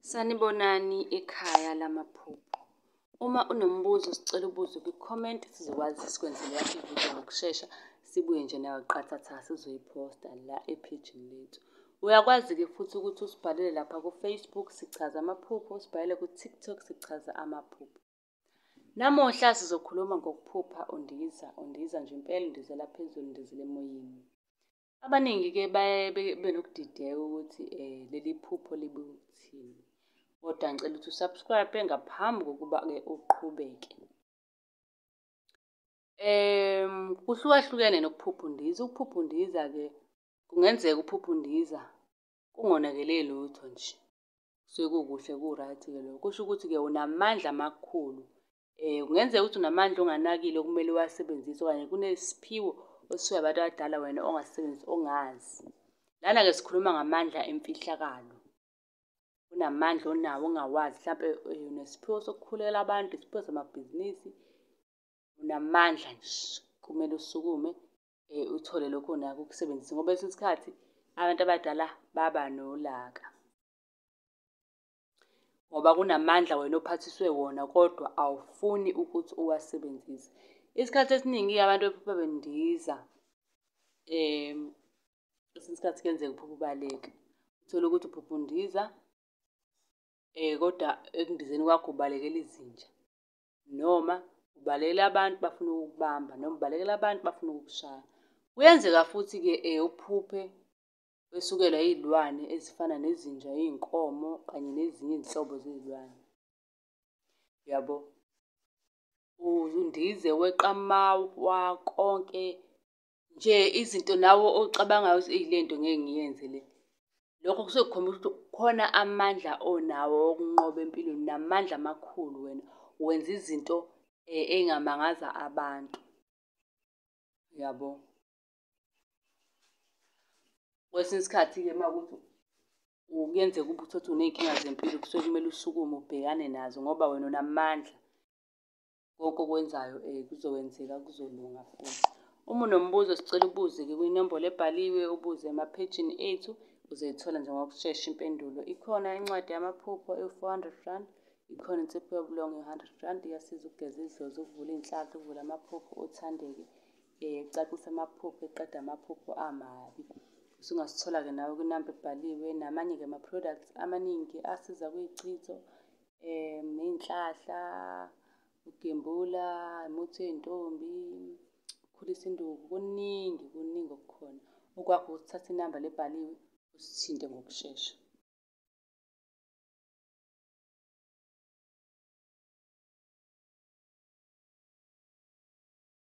Sanibonani ekhaya lamaphupho. Uma unombuzo sicela ubuze kwi-comment sizokwazi sikwenzele yakho ividiyo ngokushesha sibuye nje nayo qathatha sizoyiphosta la ephejini lethu. Uyakwazi-ke futhi ukuthi usibhalele lapha ku-Facebook sichaza amaphupho, usibhalele ku-TikTok sichaza amaphupho. Namuhla sizokhuluma ngokuphupha undiza, undiza nje impela undizela phezulu, undizela emoyeni. Abaningi-ke baye benokudideka ukuthi um leli phupho libuthini kodwa ngicela ukuthi usubscribe ngaphambi kokuba-ke uqhubeke um kuhlukahlukene nokuphupha undiza ukuphupha undiza-ke kungenzeka uphupha undiza kungonakele lutho nje kusuke kukuhle ku-right-ke lokho kusho ukuthi-ke unamandla amakhulu Eh kungenzeka ukuthi unamandla onganakile okumele uwasebenzise okanye kunesiphiwo osisuka abantu abadala wena ongasebenzisi ongazi. Lana ke sikhuluma ngamandla emfihlakalo. Unamandla onawo ongawazi mhlawumbe eh, unesiphiwo sokukhulekela abantu, isiphiwo samabhizinisi. Unamandla nje kumele usukume eh uthole lokho onako ukusebenzisa ngoba esikhathi abantu abadala baba nolaka. ngoba kunamandla wena ophathiswe wona kodwa awufuni ukuthi uwasebenzise. Isikhathi esiningi abantu bephupha bendiza um kwesinye isikhathi kuyenzeka uphuphe ubaleka uthole ukuthi uphupha undiza um kodwa ekundizeni kwakho ubalekela izinja noma ubalekela abantu bafuna ukukubamba noma ubalekela abantu bafuna ukukushaya. Kuyenzeka futhi-ke um uphuphe kwesukelwa izilwane ezifana nezinja, izinkomo kanye nezinye izinhlobo zezilwane. Yabo. Undize weqamawa konke nje izinto nawe ocabangayo ukuthi eyi lento ngeke ngiyenze le. Lokho kusuke kukhombisa ukuthi khona amandla onawo okunqoba empilweni namandla amakhulu wena. Wenza izinto engamangaza abantu. Yabo. kwesinye isikhathi-ke uma kuthi kuyenzeka uba uthothe uney'nkinga zempilo kusuke kumele usukume ubhekane nazo ngoba wena unamandla konke okwenzayo um kuzokwenzeka kuzolunga futhi uma unombuzo sicela ubuze-ke kwinombolo ebhaliwe ubuze emaphejini ethu uzoyithola nje ngokushesha impendulo ikhona incwadi yamaphupho ewu-four hundred rand ikhona insipho yobulongo i-hundred rand iyasiza ukugeza idlozi ukuvula iy'nhlahla ukuvula amaphupho othandeke um ecacisa amaphupho eqeda amaphupho amabi usungasithola-ke nawe kwinamba ebhaliwe namanye-ke ama-products amaningi asiza kwiyichitho um ney'nhlahla ugembula umuthi wey'ntombi ukhulisa induku kuningi kuningi okukhona okwakho ukuthatha inamba lebhaliwe usithinte ngokushesha